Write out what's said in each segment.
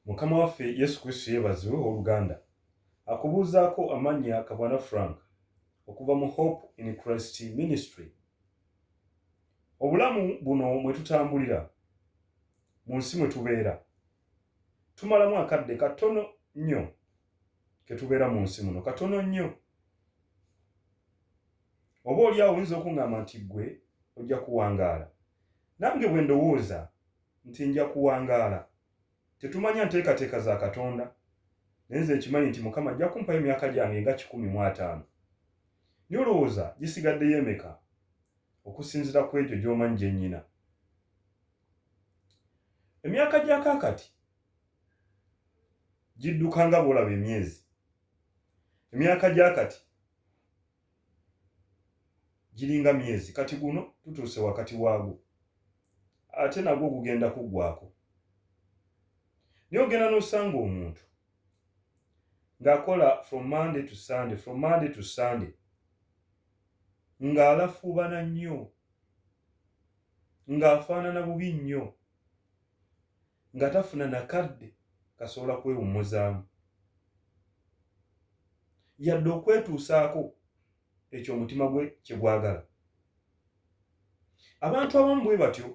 mukama waffe yesu kristo yeebazibwe oluganda akubuuzaako amannya kabwana frank okuva mu hope in christ ministry obulamu buno mwe tutambulira mu nsi mwe tubeera tumalamu akadde katono nnyo ketubeera mu nsi muno katono nnyo Oba oli awo oyinza okuŋŋamba nti ggwe ojja kuwangaala. Nange bwe ndowooza nti nja kuwangaala. Tetumanya nteekateeka za Katonda, naye nze nkimanyi nti Mukama ajja kumpayo emyaka gyange nga kikumi mu ataano. Naye olowooza gisigaddeyo emeka, okusinziira ku egyo gy'omanyi gye nnyina? Emyaka gya kaakati gidduka nga bw'olaba emyezi. Emyaka gya kati giringa myezi kati guno tutuuse wakati waagwo ate nagwo gugenda kuggwako naye ogenda n'osanga omuntu ng'akola from monday to sunday from monday to sunday ng'alafuubana nnyo ng'afaanana bubi nnyo nga tafuna nakadde kasobola kwewummuzaamu yadde okwetuusaako ekyo omutima gwe kyegwagala abantu abamu bwe batyo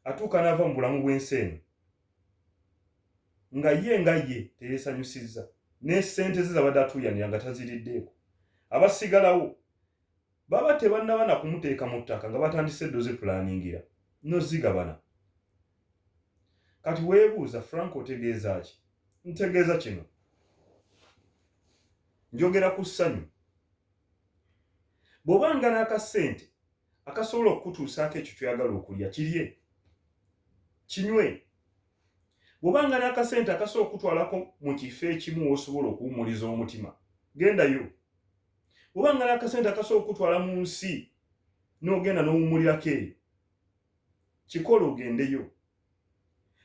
atuuka n'ava mu bulamu bw'ensi eno nga ye nga ye teyeesanyusizza ne ssente ze zabadde atuuyanira nga taziriddeeko abasigalawo baba tebannaba na kumuteeka mu ttaka nga batandise eddo zipulaningira nozigabana kati weebuuza frank otegeeza ki ntegeeza kino njogera ku ssanyu bw'oba nga n'akasente akasobola okukutuusaako ekyo kyoyagala okulya kirye kinywe bw'oba nga n'akasente akasobola okukutwalako mu kifo ekimu wosobola okuwumuliza omutima gendayo oba ngala akasente akasobola okutwala mu nsi n'ogenda n'owummulirako eyo kikola ogendeyo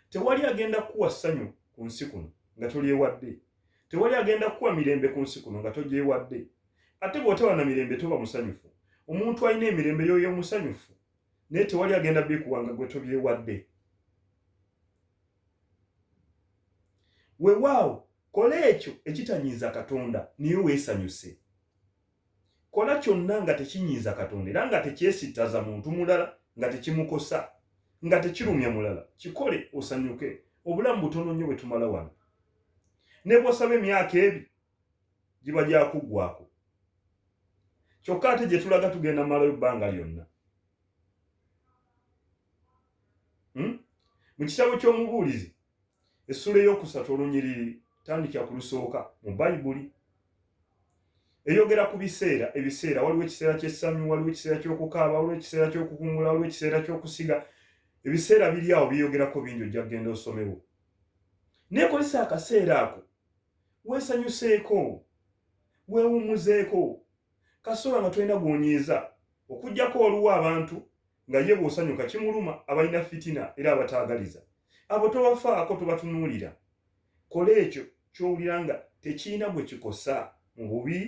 tewali agenda kuwa ssanyu ku nsi kuno nga tolyewadde tewali agenda kuwa mirembe ku nsi kuno nga togyewadde ate bw'otaba na mirembe toba musanyufu omuntu alina emirembe yoyo omusanyufu naye tewali agenda bikuwa nga gwe tobyewadde wewaawo kola ekyo ekitanyiiza katonda naye weesanyuse kola kyonna nga tekinyiiza katonda era nga tekyesittaza muntu mulala nga tekimukosa nga tekirumya mulala kikole osanyuke obulamu butono nnyo bwe tumala wano ne bwosaba emyaka ebi giba gyakuggwako kyokka ate gye tulaga tugenda malayo bbanga lyonna hmm? mu kitabo ky'omubuulizi essula ey'okusatu olunyiriri tandikira ku lusooka mu bayibuli eyogera ku biseera ebiseera waliwo ekiseera ky'essanyu waliwo ekiseera ky'okukaaba waliwo ekiseera ky'okukungula waliwo ekiseera ky'okusiga ebiseera biri awo byeyogerako bingi ojja kugenda osomewo naye kozesa akaseera ako weesanyuseeko weewummuzeeko kasoola nga tolina gwonyiiza okujjako waliwo abantu nga ye bwosanyuka kimuluma abalina fitina era abataagaliza abo tobafaako tobatunuulira kola ekyo kyowulira nga tekirina gwe kikosa mu bubi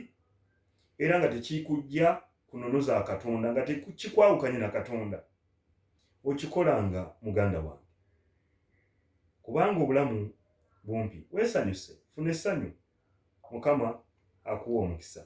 era nga tekikujja ku nono za katonda nga tekikwawukanye na katonda okikolanga muganda wange kubanga obulamu bumpi weesanyuse funa essanyu mukama akuwa omukisa